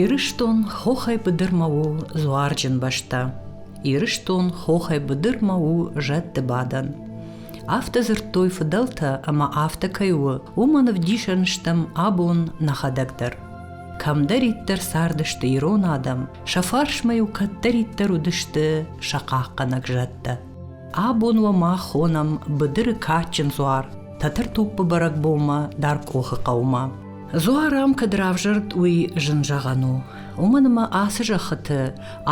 Ирыстон хохӕй быдырмӕ у дзуарджын бӕстӕ. Ирыстон хохӕй быдырмӕ у зӕдты бадӕн. Афтӕ дзырдтой фыдӕлтӕ ӕмӕ афтӕ кӕй у, уымӕн ӕвдисӕн стӕм абон нӕхӕдӕг дӕр. Кӕмдӕриддӕр цардысты ирон адӕм, сӕ фарсмӕ-иу кӕддӕриддӕр уыдысты сӕ хъахъхъӕнӕг зӕдтӕ. Абон уӕ мах хонӕм быдыры кадджын дзуар Тӕтӕртоппы бӕрӕгбонмӕ дӕр Къохы хъӕумӕ. Дзуар ам кӕд равзӕрд, уый зын зӕгъӕн у. Уымӕн ӕмӕ ацы зӕххыты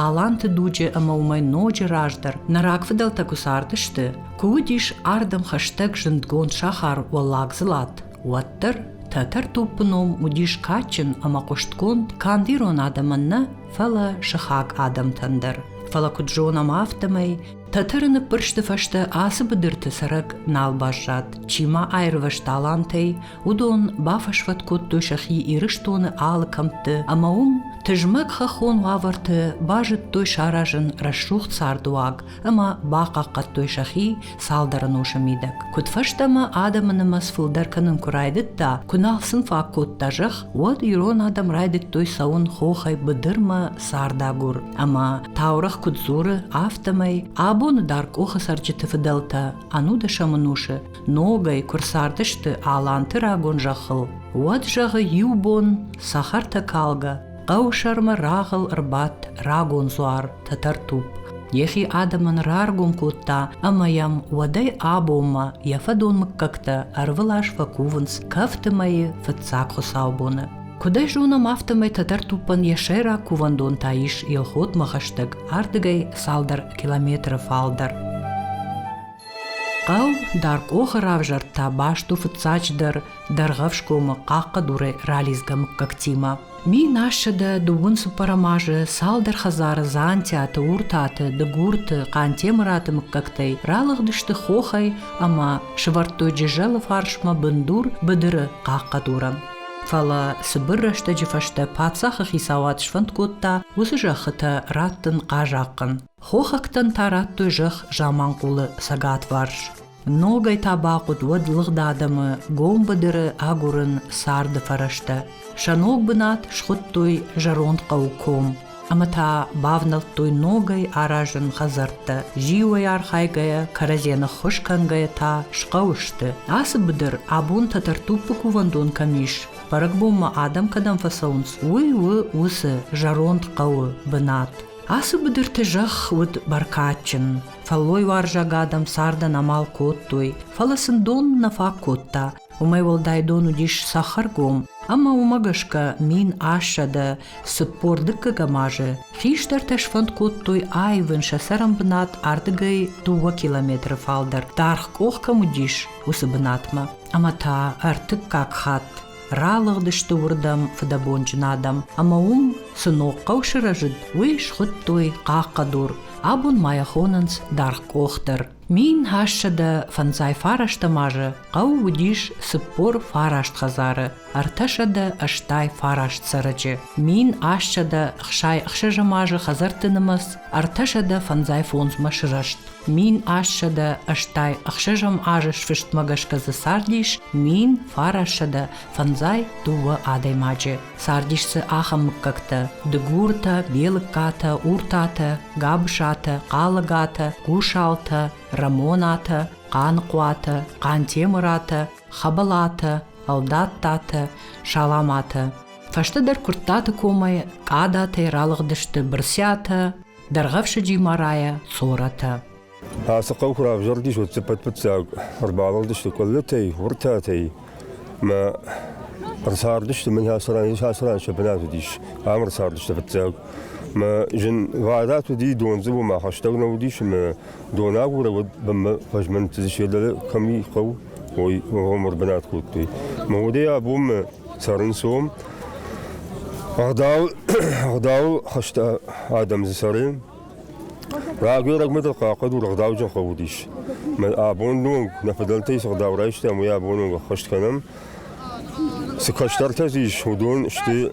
аланты дуджы ӕмӕ уымӕй ноджы раздӕр нӕ рагфыдӕлтӕ куы цардысты, куы уыдис ардӕм хӕстӕг зындгонд сахар Уӕллагдзылат, уӕддӕр Тӕтӕртоппы ном уыдис кадджын ӕмӕ хъуыстгонд канд ирон адӕмӕн нӕ, фӕлӕ сыхаг адӕмтӕн дӕр. Фӕлӕ куыд зонӕм, афтӕмӕй Тӕтӕры ныппырсты фӕстӕ ацы быдырты цӕрӕг нал баззад. Чи ма аирвӕзт талантӕй, уыдон бафӕсвӕд кодтой сӕхи Ирыстоны алы кӕмтты ӕмӕ уым тызмӕг хӕххон уавӕрты базыдтой саразын рӕсугъд цардыуаг, ӕмӕ бахъахъхъӕдтой сӕхи цалдӕр ӕнусы мидӕг. Куыдфӕстӕмӕ адӕмы нымӕц фылдӕр кӕнын куы райдыдта, куы нал сын фаг кодта зӕхх, уӕд ирон адӕм райдыдтой цӕуын хохӕй быдырмӕ цардагур. Ӕмӕ таурӕгъ куыд дзуры, афтӕмӕй абоны дӕр къохы цӕрджыты фыдӕлтӕ ӕнудӕсӕм ӕнусы ногӕй куы рцардысты аланты рагон зӕххыл, уӕд зӕгъы иу бон цӕхӕртӕ калгӕ Хъӕу сӕрмӕ рагъыл ӕрбадт рагон дзуар Тӕтӕртупп. Йӕхи адӕмӕн раргом кодта ӕмӕ йӕм уӕдӕй абонмӕ йӕ фӕдон мыггӕгтӕ ӕрвылаз фӕкувынц кӕфты мӕйы фыццаг хуыцаубоны. Куыд ӕй зонӕм, афтӕмӕй Тӕтӕртуппӕн йӕ сӕйраг кувӕндон та ис Елхотмӕ хӕстӕг ардыгӕй цалдӕр километры фалдӕр. Хъӕу Даркъохы равзӕрд та бӕсту фыццаджыдӕр Дӕргъӕфсгомы хъахъхъӕдурӕй ралидзгӕ мыггӕгтимӕ. Мин ассӕдӕ дыууын цыппӕрӕм азы цалдӕр хӕдзары Дзантиаты, Уртаты, Дыгурты, Хъантемыраты мыггӕгтӕй ралыгъдысты хохӕй ӕмӕ сывӕрдтой Джызӕлы фарсмӕ бындур быдыры хъахъхъӕдуры. Фӕлӕ цыбыр рӕстӕджы фӕстӕ паддзахы хицауад сфӕнд кодта уыцы зӕххытӕ радтын хъазахъхъӕн. Хохӕгтӕн та радтой зӕхх заманхъулы цӕгатварс. Ногӕй та бахъуыд уӕд лыгъд адӕмы гом быдыры агурын царды фӕрӕзтӕ. Сӕ ног бынат схуыдтой зӕронд хъӕу Ком. Ӕмӕ та бавнӕлдтой ногӕй аразын хӕдзӕрттӕ. Зиуӕй архайгӕйӕ, кӕрӕдзийӕ ныххуыз кӕнгӕйӕ та схъӕуы сты. Ацы быдыр абон Тӕтӕртуппы кувӕндон кӕм ис, бӕрӕгбонмӕ адӕм кӕдӕм фӕцӕуынц, уый у уыцы зӕронд хъӕуы бынат. Ацы быдырты зӕхх уыд бӕркадджын. Фӕллойуарзаг адӕм цардӕн амал кодтой, фӕлӕ сын дон нӕ фаг кодта. Уымӕй уӕлдай дон уыдис сахаргом, ӕмӕ уымӕ гӕсгӕ мин ассӕдӕ цыппор дыккӕгӕм азы хистӕртӕ сфӕнд кодтой аивын сӕ цӕрӕнбынат ардыгӕй дыууӕ километры фалдӕр, даргъ къох кӕм уыдис, уыцы бынатмӕ. Ӕмӕ та ӕртыккаг хатт Ралыгъдысты уырдӕм фыдӕбонджын адӕм, ӕмӕ уым цы ног хъӕу сырӕзыд, уый схуыдтой Хъахъхъӕдур. Абон ма йӕ хонынц Даргъ къох дӕр. Мин хӕссӕдӕ фӕндзай фарӕстӕм азы хъӕу уыдис цыппор фараст хӕдзары, ӕртӕсӕдӕ ӕстай фараст цӕрӕджы, мин ассӕдӕ хсай ӕхсӕзӕм азы хӕдзӕртты нымӕц ӕртӕсӕдӕ фӕндзай фондзмӕ сырӕзт. Мин ассӕдӕ ӕстай ӕхсӕзӕм азы сфыстмӕ гӕсгӕ дзы цардис мин фарассӕдӕ фӕндзай дыууӕ адӕймаджы. Цардис дзы ахӕм мыггӕгтӕ: дыгуртӕ, белыгкатӕ, уртатӕ, габысатӕ, хъалыгатӕ, гусалтӕ, рӕмонатӕ, хъаныхъуатӕ, хъантемыратӕ, хӕбӕлатӕ, ӕлдаттатӕ, саламатӕ. Фӕстӕдӕр Куырттаты комӕй Къадатӕй ралыгъдысты Бырсиатӕ, дӕргъӕфсыди марайӕ цоратӕ. Ацы хъӕу куы равзӕрдис, уӕд цыппӕтпыццаг ӕрбалыгъдысты къуыллытӕй, уыртӕтӕй мӕ ӕрцардысты, мын ацы ран, ацы ран сӕ бынат уыдис, ам ӕрцардысты фыццаг. Мӕ зын вадат уыди дондзыбы, мӕ хӕстӕг нӕ уыдис, мӕ донагуры уыд бынмӕ фӕзмӕнтты се дӕле кӕми хъӕу, ой, омыр бынат кодтой. Мӕ удӕй абонмӕ цӕрынц уым. Ӕгъдау, ӕгъдау хӕсты адӕм дзы цӕры. Рагӕй-рагмӕ дӕр хъахъхъӕд ӕгъдауджын уыдис. Абон ног нӕ фыдӕлтӕй цы ӕгъдау райстам, уый абон ног ӕххӕст кӕнӕм. Цы кӕстӕртӕ дзы ис, уыдон сты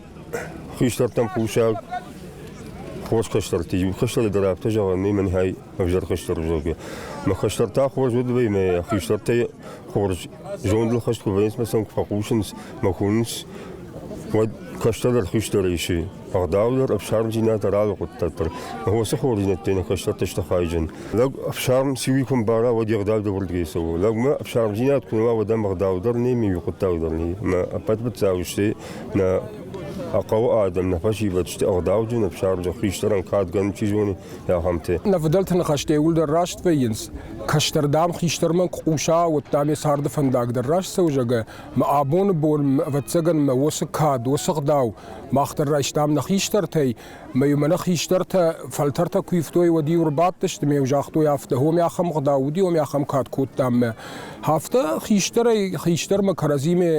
хистӕртӕм хъусӕг, хорз кӕстӕртӕ. Иу кӕстӕры дӕр афтӕ зӕгъӕн нӕй мӕнхай ӕвзӕр хестӕр узӕгӕ. Мӕ хестӕртӕ хорз уодвӕй мӕ хистӕртӕй хорз зондыл хӕст куы вӕййынц, мӕ сӕм куы фӕхъусынц, мӕ куынынц, уӕд кӕстӕр хистӕр исы. Ӕгъдаудӕр ӕфсармдзинад ӕралы хъуыддаг дӕр. Уыцы хорздзинӕдтӕй нӕ кӕстӕртӕ сты хайджын. Лӕг ӕфсарм сиуи куы мбара, уӕд йе гъдау дӕвӕрдгӕй цӕуы. Лӕгмӕ ӕфсармдзинад куы нӕ уа, уӕд ӕм ӕгъдаудӕр нӕй, миу хъуыддаг дӕр нӕй. Мӕ ӕппӕт быццау сты нӕ хъӕуы адӕм, нӕ фӕсивӕд сты ӕгъдауджын ӕфсарм, зӕгъ хистӕрӕн кадгӕн чи зоны, зӕгъӕмты. Нӕвыдӕлты ныхӕстӕ иууылдӕр раст вӕййынц. Кӕстӕрдӕм, хистӕрмӕ куы хъуса, уӕд та мӕ царды фӕндаг дӕр раст цӕуы, зӕгъгӕ, мӕ абоны бон, ӕвӕццӕгӕн, мӕ уыцы кад, уыцы гъдау мах дӕр райстам нӕ хистӕртӕй, мӕ-иу мӕнӕ хистӕртӕ фӕлтӕртӕ куы ивтой, уӕд-иу ӕрбадтысты мӕ-иу загътой афтӕ, о, мӕ ахӕм гъдау уыди, о, мӕ ахӕм кад кодтам мӕ. Афтӕ хистӕрӕй хистӕрмӕ кӕрӕдзимӕ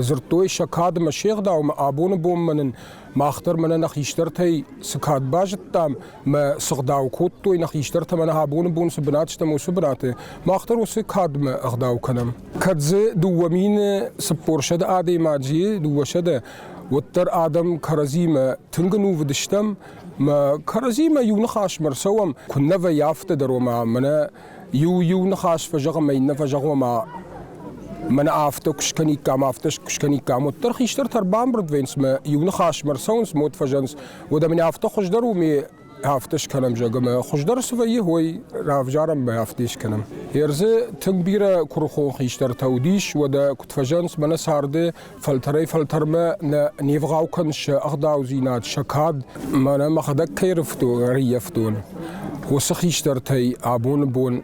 дзырдтой сӕ кад ӕмӕ се гъдау, мӕ абоны бонмӕ нын Мах дӕр мӕнӕ нӕ хистӕртӕй цы кад базыдтам, мӕ цы гъдау кодтой нӕ хистӕртӕ мӕнӕ абоны бон цы бынат стӕм, уыцы бынаты, мах дӕр уыцы кадмӕ ӕгъдау кӕнӕм. Кӕд дзы дыууӕ мины цыппорсӕдӕ адӕймаджы, дыууӕсӕдӕ, уӕддӕр адӕм кӕрӕдзимӕ тынг нувыдыстӕм, мӕ кӕрӕдзимӕ иу ныхасмӕ рцӕуӕм, куыннӕ вӕййы афтӕ дӕр, ома мӕнӕ Иу-иу ныхас фӕзӕгъӕм ӕй, иннӕ фӕзӕгъӕм ӕмӕ мӕнӕ афтӕ куы скӕниккам, афтӕ куы скӕниккам, уӕддӕр хистӕртӕ ӕрбамбырд вӕййынц ӕмӕ иу ныхасмӕ ӕрцӕуынц ӕмӕ уӕд фӕзӕнынц. Уӕд ӕмӕ афтӕ хуыздӕр у, ме афтӕ скӕнӕм, зӕгъӕм, ӕмӕ хуыздӕр цы вӕййы, уой равзарӕм ӕмӕ афтӕ скӕнӕм. Ӕрдзы тынг бирӕ куырыхон хистӕртӕ уыдис, уӕдӕ куыд фӕзӕнынц, мӕнӕ царды фӕлтӕрӕй-фӕлтӕрмӕ нӕ нивгъау кӕнсы ӕгъдаудзинад, сӕ кад, мӕнӕ мӕхӕдӕг кӕй ӕрӕййӕфтон, уыцы хистӕртӕй абоны бон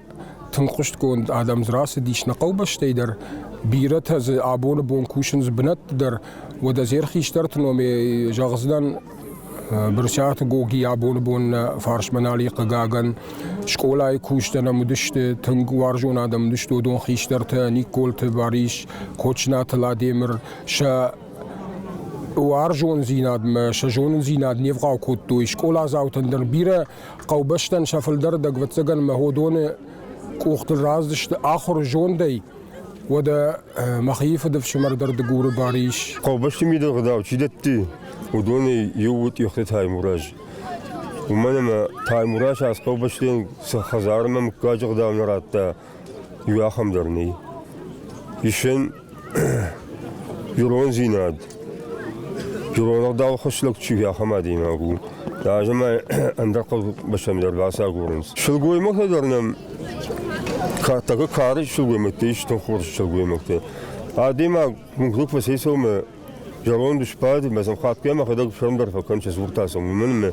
тынг хъуыстгонд адӕм дзы рацыдис нӕ хъӕубӕстӕй дӕр. Бирӕтӕ дзы абоны бон кусынц бынӕтты дӕр. Уӕдӕ зӕр хистӕрты номӕй зӕгъдзынӕн Брытъиаты Гоги абоны бон нӕ фарсмӕ нали хъыгагӕн скъолайы кусджытӕ нӕм уыдысты, тынг уарзон адӕм уыдысты уыдон хистӕртӕ Никколты Барис, Кочнаты Ладемыр, сӕ уарзондзинадмӕ, сӕ зонындзинад не вгъау кодтой. Скъоладзаутӕн дӕр бирӕ хъӕубӕстӕн сӕ фылдӕрдӕг, ӕвӕццӕгӕн, мӕ уыдоны къухтыл раздысты ахуыр зондӕй, Уӕдӕ мӕхи фыдыфсымӕр дӕр Дыгуры бар ис. Хъӕубӕсты мидӕгъдау чи дӕтты, уыдонӕй иу у Тъехты Таймураз. Уымӕн ӕмӕ Таймураз ацы хъӕубӕстӕн цы хӕдзар ӕмӕ мыггаджы гъдау нӕ радта, иу ахӕм дӕр нӕй. Исӕн ирондзинад, Ирон ӕгъдауы хуыссӕг чи ахӕм адӕймаг у, ӕз ӕмӕ ӕндӕр хъӕубӕстӕм дӕр бацагурынц. Сылгоймӕгтӕ дӕр нӕм тӕгы кары сылгоймӕгтӕ ис тынг хорз сылгоймӕгтӕ. Адӕймаг мыггаг фӕцӕйцӕуы зӕронд сбад, мӕ сӕм хатгай мӕхӕдӕг сӕм дӕр фӕкӕн, сӕ дзуртӕ сӕм, уымӕн ӕмӕ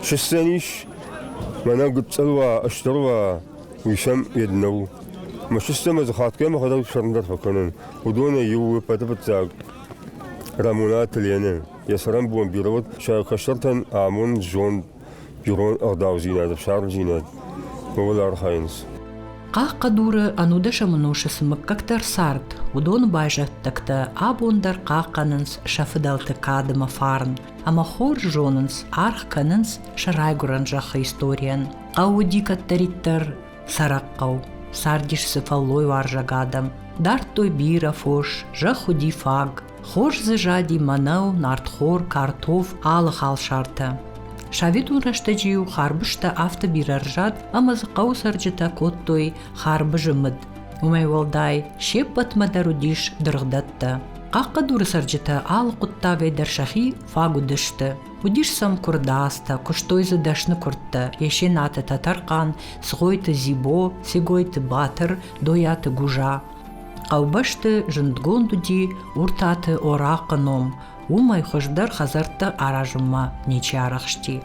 сыстӕн ис, мӕнӕ гыццыл уа, ыстыр уа, уый сӕм йед нӕу. Мӕ сыстӕм ӕз хатгай мӕхӕдӕг сӕм дӕр фӕкӕнын. Уыдонӕй иу у пӕтыфыццаг Рӕмонаты Ленӕ. Йӕ цӕрӕнбон бирӕ уыд сӕ кӕстӕртӕн амонд, зонд, ирон ӕгъдаудзинад, ӕфсармдзинад, ууыл архайынц. Хъахъхъӕдуры ӕнудӕсӕмон усы цы мыггӕгтӕ рцард, уыдоны байзӕддӕгтӕ абон дӕр хъахъхъӕнынц сӕ фыдӕлты кад ӕмӕ фарн, ӕмӕ хорз зонынц, аргъ кӕнынц сӕ райгуырӕн зӕххы историйӕн. Хъӕуы уыди кӕддӕриддӕр Сӕрӕхъхъау, цардис дзы фӕллойуарзаг адӕм. Дардтой бирӕ фос, зӕхх уыди фаг. Хорз дзы зади мӕнӕу, нартхор, картоф, алы халсартӕ. Советон рӕстӕджы-иу харбызтӕ афтӕ бирӕ рзад, ӕмӕ дзы хъӕуы цӕрджытӕ кодтой харбызы мыд. Уымӕй уӕлдай, се ппӕтмӕ дӕр уыдис дыргъдӕттӕ. Хъахъхъӕдуры цӕрджытӕ алы хъуыддагӕй дӕр сӕхи фаг уыдысты. Уыдис сӕм куырдадзтӕ, куыстой дзы дӕсны куырдтӕ Есенаты Тӕтӕрхъан, Цгъойты Дзибо, Цегойты Батыр, Дойаты Гужа. Хъӕубӕсты зындгонд уыди Уртаты Орахъы ном, уымӕй хуыздӕр хӕдзӕрттӕ аразынмӕ ничи арӕхсти.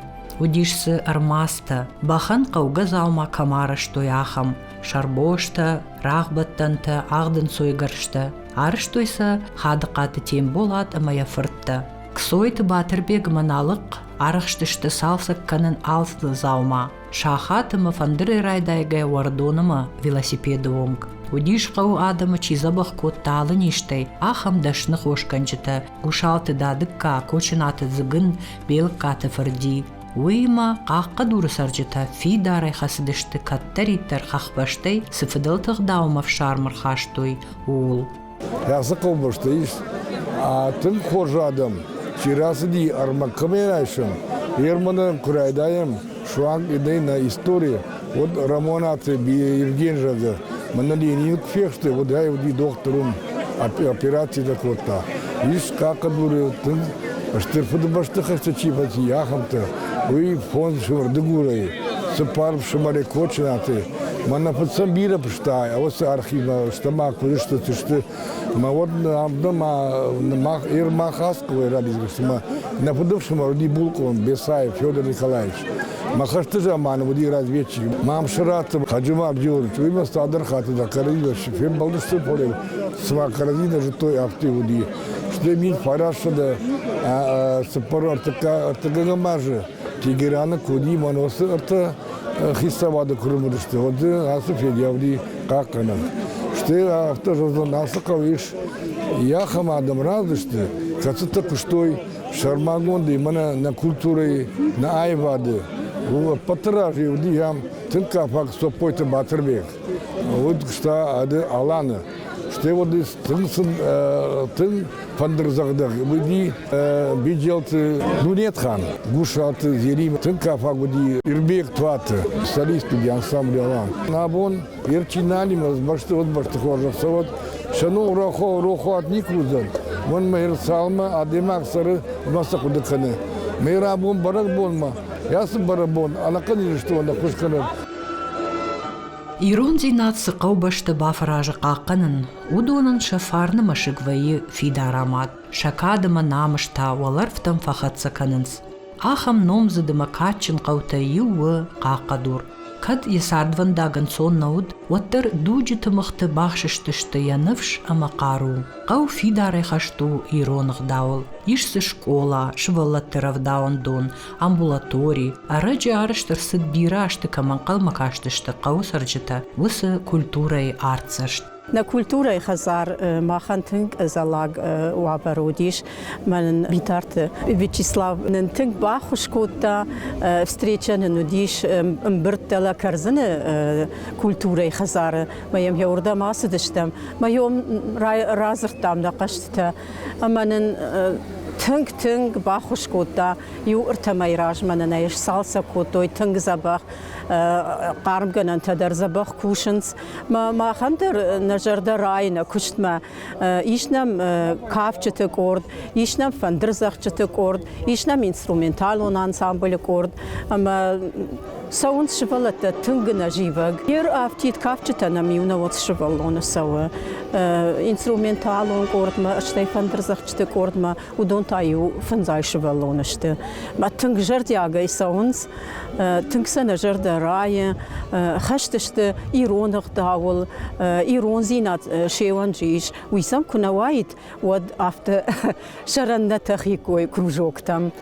Уыдис дзы ӕрмӕстӕ, бӕхӕн хъӕугӕ дзаума кӕм арӕзтой, ахӕм сӕрбостӕ, рагъбӕттӕнтӕ, ӕгъдынцойгӕрзтӕ. Арӕзтой сӕ Хадыхъаты Темболат ӕмӕ йӕ фырттӕ. Кцойты Батырбегмӕ налыхъхъ арӕхстысты цалцӕг кӕнын алцыдзы дзаума сахаты мӕ фӕндыры райдайгӕ уӕрдонымӕ велосипеды онг. Уыдис хъӕуы адӕмы чи дзӕбӕх кодта алы низтӕй, ахӕм дӕсны хосгӕнджытӕ Гусалты Дадыкка, Кочынаты Дзыгын, Белыккаты Фырди. Уыимӕ хъахъхъӕдуры цӕрджытӕ фидарӕй хӕцыдысты кӕддӕриддӕр хӕхбӕстӕй цы фыдӕлты гъдауы ӕфсарм ӕрхастой, ууыл. Хӕцы хъӕубӕстӕ ис. Тынг хорз адӕм чи рацыди ӕрмӕг кӕмӕй райсын, Ерманы куы райдайӕм, суанг нӕй нӕ истори, уӕд Рамонаты Евген зӕгъы, мӕнӕ Ленин куы фехсты, уӕд ӕй уыди дохтыр уым, операцитӕ кодта. Ис хъахъӕдуры тынг Стыр Фыдыбӕстыхӕсты чи фӕци, ахӕмтӕ. Уый фондз уырдыгурӕй, цыппар фсымӕрӕй Кочынаты, Мӕ фыццаг бирӕ фыста, уыцы архивмӕ, стӕм ма куы сты Мӕ уӕд Ермахасковой рабизгӕ, цыма нӕ фыдыфсымӕр уыди булкъон Бесаев Федор Николаевич. Мӕ хӕсты заманы уыди разведчик Мамсыраты Хаджимы Абдионович. Уыимӕ цалдӕр хатты дӕр кӕрӕдзимӕ фембӕлдысты поле, цыма кӕрӕдзимӕ зыдтой, афтӕ уыди. Стӕй мин фарастсӕдӕ цыппар ӕртыккӕгӕм азы Тегераны Коди Маносы ӕртӕ хицауады куы лымыдысты, уӕд дзы ацы федӕвди хъахъхъӕнӕм. Стӕй афтӕ зӕгъдзӕн, ацы хъӕуы ис ахӕм адӕм разысты, кӕцытӕ куыстой сӕрмагондӕй мӕнӕ нӕ культурӕйы, нӕ аивады. У ӕппӕты раз уыди ам тынг кафаг Цоппойты Батырбег, уыд куыста ӕды Аланы. Стӕй уӕд тынг сын тынг фӕндырдзӕгъдӕг уыди Беджелты Дунетхан, Гусаты Зерим, тынг кафаг уыди Ирбег Туаты, солист уыди ансамбль Алан. Абон Ерчиналимӕ бӕстыгъд бӕсты хорзӕх цӕуӕд, сӕ ном рохо рохуат никуы уыдзӕн. Мӕнмӕ Ирыцалмӕ адӕймаг цӕры ӕмӕ цы хъуыды кӕны. Мӕ рабон бӕрӕгбонмӕ, йӕ цы бӕрӕгбон ӕнӕхъӕн Ирыстон ӕххуыс кӕнӕд. Ирондзинад цы хъӕубӕсты бафӕразы хъахъхъӕнын, уыдонӕн сӕ фарны мӕсыг вӕййы фидарамад, сӕ кад ӕмӕ намыс та уӕлӕрвтӕм фӕхӕццӕ кӕнынц. Ахӕм номдзыд ӕмӕ кадджын хъӕутӕй иу у Хъахъхъӕдур. Кӕд йӕ цардвӕндаг ӕнцон нӕ уыд, уӕддӕр дуджы тымыгъты бахсыстысты йӕ ныфс ӕмӕ хъару. Хъӕу фидарӕй хӕст у ирон ӕгъдауыл. Ис дзы скъола, сывӕллӕтты рӕвдауӕндон, амбулатори. Ӕрӕджы арӕзт ӕрцыд бирӕ азты кӕм ӕнхъӕлмӕ кастысты хъӕуы цӕрджытӕ, уыцы культурӕйы артдзӕст. Нӕ культурӕйы хӕдзар махӕн тынг зӕллаг уавӕры уыдис. Мӕнӕн Битарты Вячеслав нын тынг баххуыс кодта. Встреча нын уыдис ӕмбырдтӕ лӕ кӕрдзыны культурӕйы хӕдзары. Мӕ йӕм йӕ уырдӕм ацыдыстӕм. Мӕ йом радзырдтам нӕ хъӕзтытӕ. ӕмӕ нын тынг-тынг баххуыс кодта. Иу ӕртӕмӕй размӕ нын ӕй сцалцӕг кодтой тынг дзӕбӕх хъармгӕнӕнтӕ дӕр дзӕбӕх кусынц. Махӕн дӕр нӕ зӕрдӕ райы нӕ куыстмӕ. Ис нӕм кафджыты къорд, ис нӕм фӕндырдзӕгъдджыты къорд, ис нӕм инструменталон ансамблы къорд ӕмӕ Цӕуынц сывӕллӕттӕ тынг ӕнӕзивӕг. Не рӕфтид кафджытӕ нӕм иунӕгон сывӕллоны цӕуы инструменталон къордмӕ, стӕй фӕндырдзӕгъдджыты къордмӕ. Уыдон та-иу фындзӕй сывӕллоны сты. Тынг зӕрдиагӕй цӕуынц, тынг сӕ нӕ зӕрдӕ райы. Хӕст сты ирон ӕгъдауыл, ирондзинад се уӕнджы ис. Уый сӕм куы нӕ уаид, уӕд афтӕ сӕрӕннӕ тӕхиккой кружоктӕм.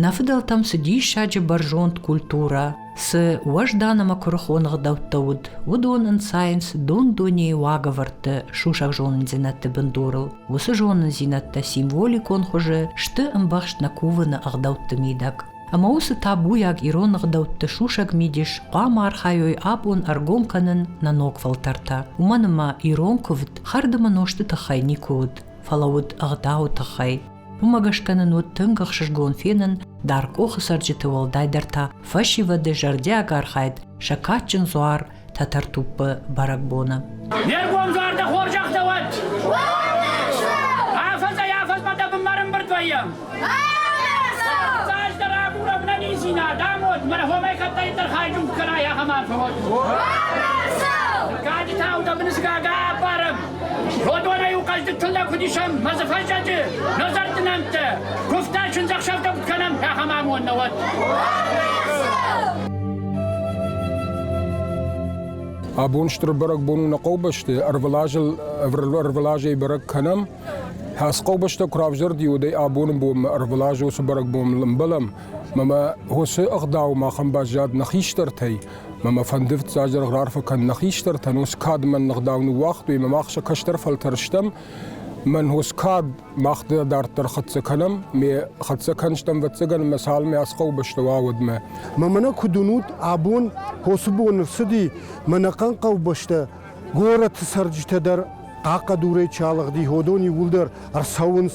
Нӕ фыдӕлтӕм цы диссаджы бӕрзонд культурӕ, цы уӕздан ӕмӕ куырыхон ӕгъдӕуттӕ уыд, уыдон ӕнцайынц дон-дунейы уагӕвӕрдты сусӕг зонындзинӕдты бындурыл. Уыцы зонындзинӕдтӕ символикон хуызы сты ӕмбӕхст нӕ кувыны ӕгъдӕутты мидӕг. Ӕмӕ уыцы табуйаг ирон ӕгъдӕутты сусӕг мидис хъуамӕ архайой абон ӕргом кӕнын нӕ ног фӕлтӕртӕ, уымӕн ӕмӕ ирон куывд хӕрдымӕ нозты тыххӕй никуы уыд, фӕлӕ уыд ӕгъдауы тыххӕй. Уымӕ гӕсгӕ нын уыд тынг ӕхсызгон фенын, Даркъохы цӕрджыты уӕлдайдӕр та фӕсивӕды зӕрдиаг архайд сӕ кадджын дзуар Тӕтӕртуппы бӕрӕгбоны. Не ргом зӕрдӕ хорзӕхтӕ уӕд! Афӕдзӕй-афӕдзмӕ дӕ бынмӕ рымбырд вӕййӕм! Цасдӕр агурӕм нӕ ниндзинад, амод, мӕнӕ хомӕй кӕддӕриддӕр хайджуг кӕнай ахӕм арфӕ уӕд! Каджытау дӕ бынысгага аппарӕм! Родварӕй указды тыллӕг фыдисӕм мӕзы фӕсаджы, назарты нӕмттӕ, куывтӕ сындзӕхсӕвтӕм кӕнӕм пӕхӕм амон науӕд. Абон стыр бӕрӕгбон у нӕ хъӕубӕсты, ӕрвылазыл ӕрвылазӕй бӕрӕг кӕнӕм. Хӕс хъӕубӕстӕ куы равзӕрди, уӕдӕй абоны бонмӕ ӕрвылаз уыцы бӕрӕгбон ӕмбӕлӕм, ӕмӕ уыцы ӕгъдау махӕн баззад нӕ хистӕртӕй, Мӕ мӕ фӕнды фыццагдӕр раарфӕ кӕн нӕ хистӕртӕн, ус кӕд мӕн ныгъдау ныууагътой, мӕ мах сӕ кӕстӕр фӕлтӕр стӕм. Мӕн ус кӕд мах дӕ дарддӕр хӕццӕ кӕнӕм, ме хӕццӕ кӕныстӕм вӕццӕгӕн мӕ цалынмӕ ас хъӕубӕстӕ уа, уӕдмӕ. Ма мӕнӕ куыд уынут, абон хосы бон ӕрцыди мӕнӕ хъӕн хъӕубӕстӕ горӕтты цӕрджытӕ дӕр хъахъхъӕдурӕй чалыгъди ходон иууылдӕр ӕрцӕуынц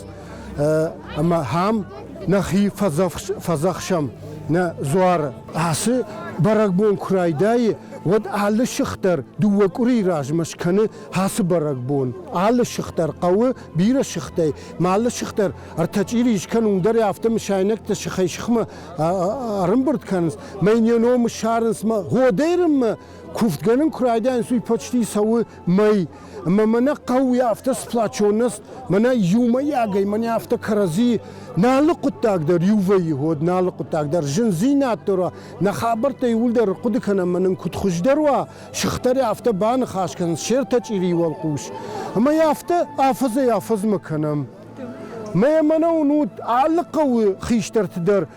ӕмӕ ам нӕхи фӕдзӕхсӕм нӕ дзуары. Ацы бӕрӕгбон куы райдайы, уӕд алы сых дӕр дыууӕ къуырийы размӕ скӕны ацы бӕрӕгбон. Алы сых дӕр хъӕуы бирӕ сыхтӕй, ма алы сых дӕр ӕртӕ чъири скӕн, уым дӕр афтӕ мысайнӕгтӕ сыхӕй-сыхмӕ ӕрымбырд кӕнынц, мӕ не ном ссарынц, мӕ гъодӕй рынмӕ Куфтгӕнын куы райдайынц, уый почти цӕуы мӕй. Ӕмӕ мӕнӕ хъӕуы афтӕ сплачонность, мӕнӕ иумӕйагӕй мӕнӕ афтӕ кӕрӕдзи нӕ алы хъуыддаг дӕр иувӕййы уод, нӕ алы хъуыддаг дӕр зындзинад дӕр уа, нӕ хабӕрттӕ иууылдӕр хъуыды кӕнӕм ӕмӕ нын куыд хуыздӕр уа, сыхтӕри афтӕ baныхас кӕнынц се ртӕ чъирийы уӕлхъус. Ӕмӕ йӕ афтӕ афӕдзӕй афӕдзмӕ кӕнӕм. Мӕ мӕнӕ уын уыд алы хъӕуы хистӕрты дӕр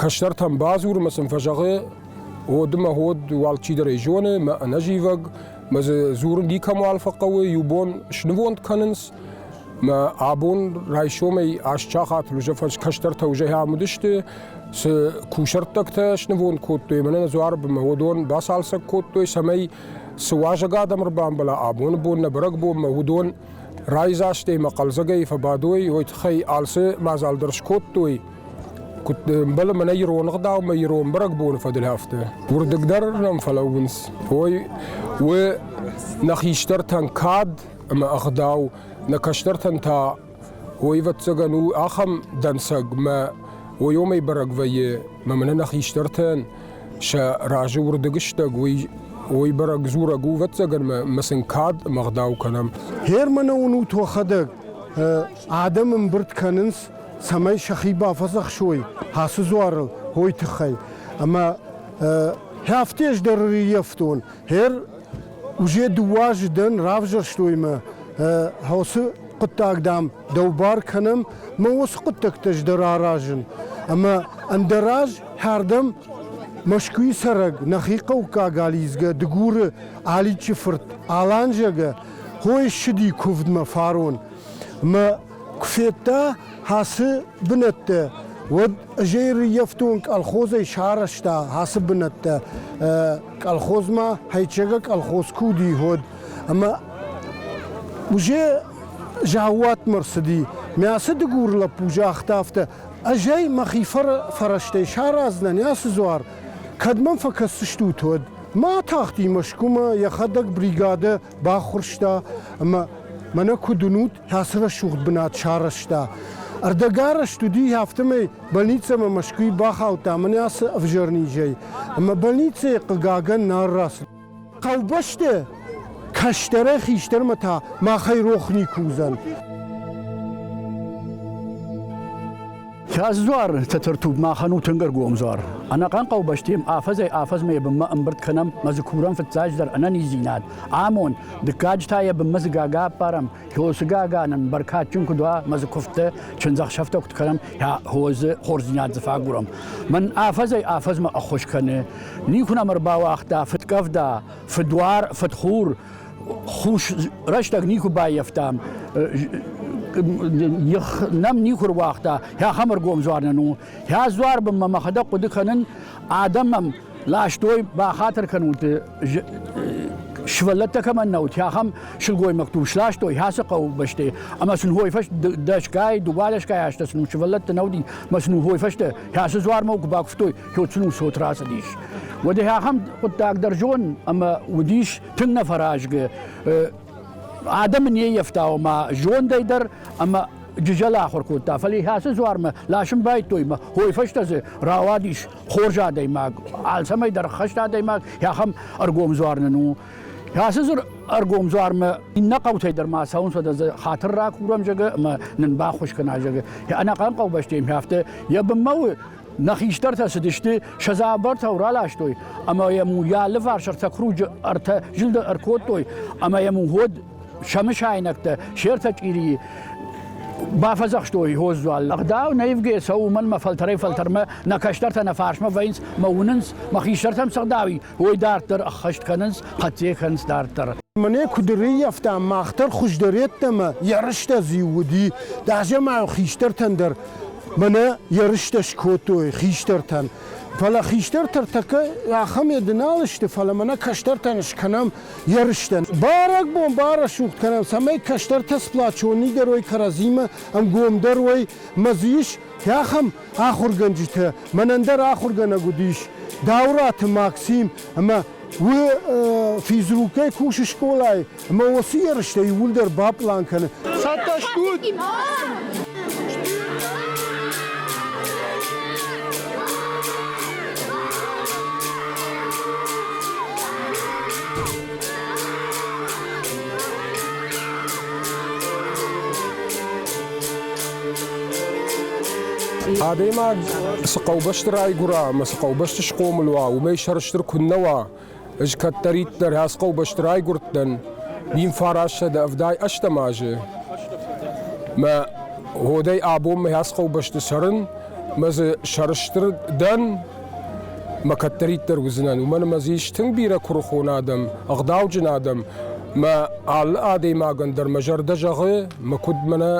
кӕстӕртӕн бадзурмӕ сын фӕзӕгъы, уоды мӕ ход алчидӕр ӕй зоны, мӕ ӕнӕзивӕг, мӕ дзы дзурын никӕмуал фӕхъӕуы, иу бон снывонд кӕнынц, мӕ абон райсомӕй асчахат кӕстӕртӕ узӕй ам уыдысты, цы кусӕрттӕгтӕ снывонд кодтой, мӕнӕ дзуар бынмӕ уыдон бацалцӕг кодтой, цӕмӕй цы уазӕг адӕм ӕрбамбӕла абоны бон, нӕ бӕрӕгбонмӕ уыдон райдзастӕй ӕмӕ хъӕлдзӕгӕй фӕбадой, уой тыххӕй алцы мадзал дӕр скодтой. Куыд ӕмбӕлы мӕнӕ ирон ӕгъдаумӕ ирон бӕрӕгбоны фӕдылӕфты. Уырдыг дӕр нӕм фӕлӕууынц. Ой, у нӕ хистӕртӕн кад ӕмӕ ӕгъдау, нӕ кӕстӕртӕн та ойвӕццӕгӕн у ахӕм дӕнцӕг, мӕ ойомӕй бӕрӕг вӕййы, мӕ мӕнӕ нӕ хистӕртӕн Сӕ разы уырдыг стӕг уый, уой бӕрӕг дзурӕг у, ӕвӕццӕгӕн мӕ сын кад ӕмӕ ӕгъдау кӕнӕм. Германы уынут уӕхӕдӕг. Адӕм ӕмбырд кӕнынц, цӕмӕй сӕхи бафӕдзӕхсой ацы дзуарыл, уой тыххӕй. Ӕмӕ хӕфты ӕз дӕр ӕрыййӕфтон. Гер уже дыууӕ азы дӕн равзӕрстой мӕ уыцы хъуыддаг, дам, Дӕу бар кӕнӕм ма уыцы хъуыддӕгтӕ здӕр аразын, ӕмӕ ӕндӕр аз хӕрдӕм Мӕскуыйы цӕрӕг, нӕхи хъӕуккаг алидзгӕ Дыгуры Аличы фырт Алан зӕгӕ хойы ссыди куывдмӕ фарон мӕ куы федта ацы бынӕттӕ, уӕд ӕзӕй рыййӕфтон колхозӕй сарӕзта ацы бынӕттӕ. Колхозмӕ Хӕйчегы колхоз куы уыди, уӕд Ӕмӕ уже заууатмӕ рцыди. Мӕ ацы дыгур лӕппу загъта афтӕ, ӕз ӕй мӕхи фӕрӕзтӕй сараздзынӕн ацы дзуар, кӕд мӕм фӕкӕсдзыстут, уӕд. Ма атахти Мӕскуымӕ, йӕхӕдӕг бригадӕ баххуырста ӕмӕ мӕнӕ куыд уынут, ацы рӕсугъд бынат сарӕзта. Ӕрдӕгарӕзт уыди, афтӕмӕй больницӕмӕ Мӕскуыйы бахаудта мӕнӕ ацы ӕвзӕр низӕй. Ӕмӕ больницӕйы хъыгагӕн нал рацыд. Хъӕубӕсты кӕстӕрӕй хистӕрмӕ та махӕй рох никуы уыдзӕн. Кӕс дзуар, Тӕтӕртуб, махӕн у тынг ӕргом дзуар. Ӕнӕхъӕн хъӕубӕстем афӕдзӕй афӕдзмӕ йӕ бынмӕ ӕмбырд кӕнӕм мӕ дзы курӕм фыццаджыдӕр ӕнӕниздзинад, амонд, дыккаджы та йӕ бынмӕ дзы гага аппарӕм, Хосыгагӕн ын бӕркадджын куыд уа, мӕ дзы куывдтӕ, чындзӕхсӕвтӕ куыд кӕнӕм, я хорзы хорздзинад дзы фӕагурӕм. Мӕн афӕдзӕй афӕдзмӕ ӕххуыс кӕны. Никуы нӕм ӕрбауагъта фыдкъӕвда, фыдуар, фыдхур. Хус рӕстӕг никуы баййӕфтам их нӕм никуы руагъта, ахӕм ӕргом дзуар нын у. Хӕ дзуар бын мӕ мӕхӕдӕг хъуыды кӕнын, адӕм мӕм Ластой бахатыр кӕнунти сывӕллӕттӕ кӕмӕн нӕ уыд, ахӕм сылгоймӕгту сластой ацы хъӕуы бӕсты, ӕмӕ сын дӕсгай, дыууадӕсгай азтӕ сын сывӕллӕтты нӕ уыди, ӕмӕ сын уой фӕстӕ ацы дзуармӕ куы бакуывтой, куы сын цот рацыдис. Уӕд ахӕм хъуыддаг дӕр зон, ӕмӕ уыдис тынг нӕфӕразгы. Адӕмы не ййӕфта, ома зондӕй дӕр ӕмӕ джызӕл ахуыр кодта, фӕлӕ ацы дзуармӕ ласын байдтой, мӕ хой фӕстӕ дзы рауадис хорз адӕймаг, алцӕмӕй дӕр ӕххӕст адӕймаг, ахӕм ӕргом дзуар нын у. Ацы дзур ӕргом дзуармӕ иннӕ хъӕутӕй дӕр ма цӕуын сӕдӕ хатыр ракурам зӕгы ӕмӕ нын баххуыс кӕна зӕгы. Ӕнӕхъӕн хъӕубӕстӕм афтӕ йӕ бынмӕ у нӕ хистӕртӕ цыдысты, сӕ дзабыртау раластой ӕмӕ йӕм йӕ алыварс ӕртӕ круджы ӕртӕ зылды ӕркодтой ӕмӕ йӕм ход сӕмысайнӕгтӕ се ртӕ чъирийы бафӕдзӕхстой Госдуал. Ӕгъдау наивгӕ цӕуы уымӕн мӕ фӕлтӕрӕй-фӕлтӕрмӕ нӕ кӕстӕртӕ нӕ фарсмӕ вӕййынц мӕ уынынц, мӕ хистӕртӕм цы гъдауи, уой дарддӕр ӕххӕст кӕнынц, хъӕццӕ кӕнынц дарддӕр. Мӕнӕ куыд ӕрӕййӕфта мах дӕр хуыздӕр йеддӕмӕ ерыстӕ зиу уыди, дазӕмӕйыл хистӕртӕн дӕр мӕнӕ ерыстӕ скодтой хистӕртӕн. Фӕлӕ хистӕртӕ тӕккӕ ахӕм еды нал сты, фӕлӕ мӕнӕ кӕстӕртӕн скӕнӕм ерыстӕн. Бӕрӕгбон барӕсугъд кӕнӕм, цӕмӕй кӕстӕртӕ сплачон нигӕр уой кӕрӕдзимӕ ӕнгомдӕр уой, ма дзы ис ахӕм ахуыргӕнджытӕ, мӕнӕн дӕр ахуыргӕнӕг уыдис Даураты Максим ӕмӕ уы физрукӕй кусы скъолайы ӕмӕ уыцы ерыстӕ иууылдӕр баплан кӕны. Цӕттӕ стут? Адӕймаг цы хъӕубӕсты райгуыра ӕмӕ цы хъӕубӕсты схъомыл уа, уымӕй сӕрыстыр куыннӕ уа, Ӕз кӕддӕриддӕр ацы хъӕубӕсты райгуырдтӕн, вин фарӕссӕдӕ ӕвдай ӕстӕм азы. Мӕ годӕй абонмӕ ацы хъӕубӕсты цӕрын, мӕ дзы сӕрыстыр дӕн, мӕ кӕддӕриддӕр уыдзынӕн. Уымӕн ӕмӕ дзы ис тынг бирӕ куырыхон адӕм, ӕгъдауджын адӕм. Мӕ алы адӕймагӕн дӕр мӕ зӕрдӕ зӕгъы, мӕ куыд мӕнӕ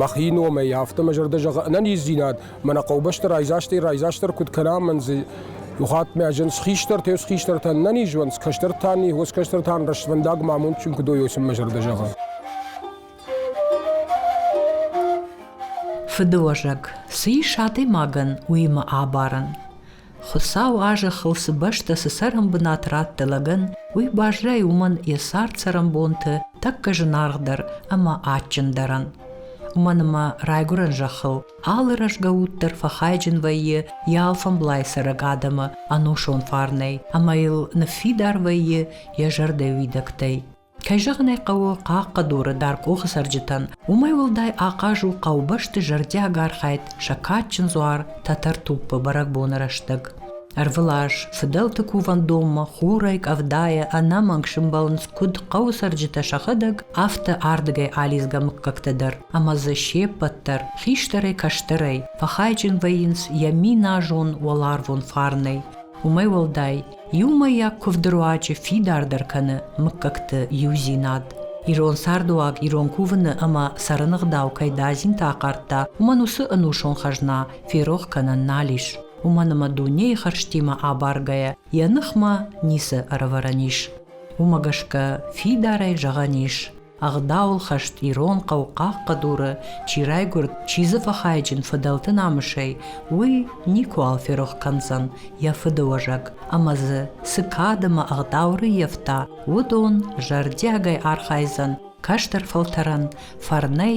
мӕхи номӕй, афтӕ мӕ зӕрдӕ зӕгъы ӕнӕниздзинад Мӕнӕ хъӕубӕсты райдзастӕй райдзастдӕр куыд кӕна, мӕн дзы Юхат мӕ зын хистӕртӕ, ес хистӕртӕн нӕ низуанц, кӕстӕртӕ ни, уос кӕстӕртӕн рӕствӕндаг ма амондджын куы дойойсун мӕ зӕрдӕ зӕгъа. Фыдыуӕзӕг, цы ис адӕймагӕн, уыимӕ абарӕн. Хуыцау а зӕххыл цы бӕстӕ, цы цӕрӕнбынат радта лӕгӕн, уый баззайы уымӕн йӕ цард цӕрӕнбонты тӕккӕ зынаргъдӕр ӕмӕ адджындӕрӕн. Уымӕн ӕмӕ Райгуырӕн зӕххыл Алы рӕзгӕ уд дӕр фӕхайджын вӕййы йӕ алфӕмблай цӕрӕг адӕмы ӕнусон фарнӕй ӕмӕ йыл ныффидар вӕййы йӕ зӕрдӕ уидӕгтӕй. Кӕй зӕгъын ӕй хъӕуы, хъахъхъӕдуры дӕркъохы цӕрджытӕн уымӕй уӕлдай ахъаз у хъӕубӕсты зӕрдиаг архайд сӕ кадджын дзуар Тӕтӕртуппы бӕрӕгбоны рӕстӕг. Ӕрвылаз фыдӕлты кувӕндонмӕ хурӕй, къӕвдайӕ ӕнӕмӕнг сымбӕлынц куыд хъӕуы цӕрджытӕ сӕхӕдӕг, афтӕ ардыгӕй алидзгӕ мыггӕгтӕ дӕр. ӕмӕ дзы се ппӕт дӕр хистӕрӕй-кӕстӕрӕй фӕхайджын вӕййынц йӕ миназон уӕларвон фарнӕй. Уымӕй уӕлдай, иумӕйаг куывды руаджы фидардӕр кӕны мыггӕгты иудзинад. Ирон цардыуаг ирон кувыны ӕмӕ цӕрыныгъдау кӕй дадзинты ахъардта, уымӕн уыцы ӕнусон хӕзна ферох кӕнӕн нал ис. Уымӕн ӕмӕ дунейы хӕрзтимӕ абаргӕйӕ йӕ ныхмӕ ницы ӕрӕвӕрӕн ис. Уымӕ гӕсгӕ фидарӕй зӕгъӕн ис, ӕгъдауыл хӕст ирон хъӕу хъахъхъӕдуры чи райгуырд, чи дзы фӕхайджын фыдӕлты намысӕй, уый никуыуал ферох кӕндзӕн йӕ фыдыуӕзӕг ӕмӕ дзы цы кадӕмӕ ӕгъдау рыййӕфта, уыдон зӕрдиагӕй архайдзӕн кӕстӕр фӕлтӕрӕн фӕрнӕй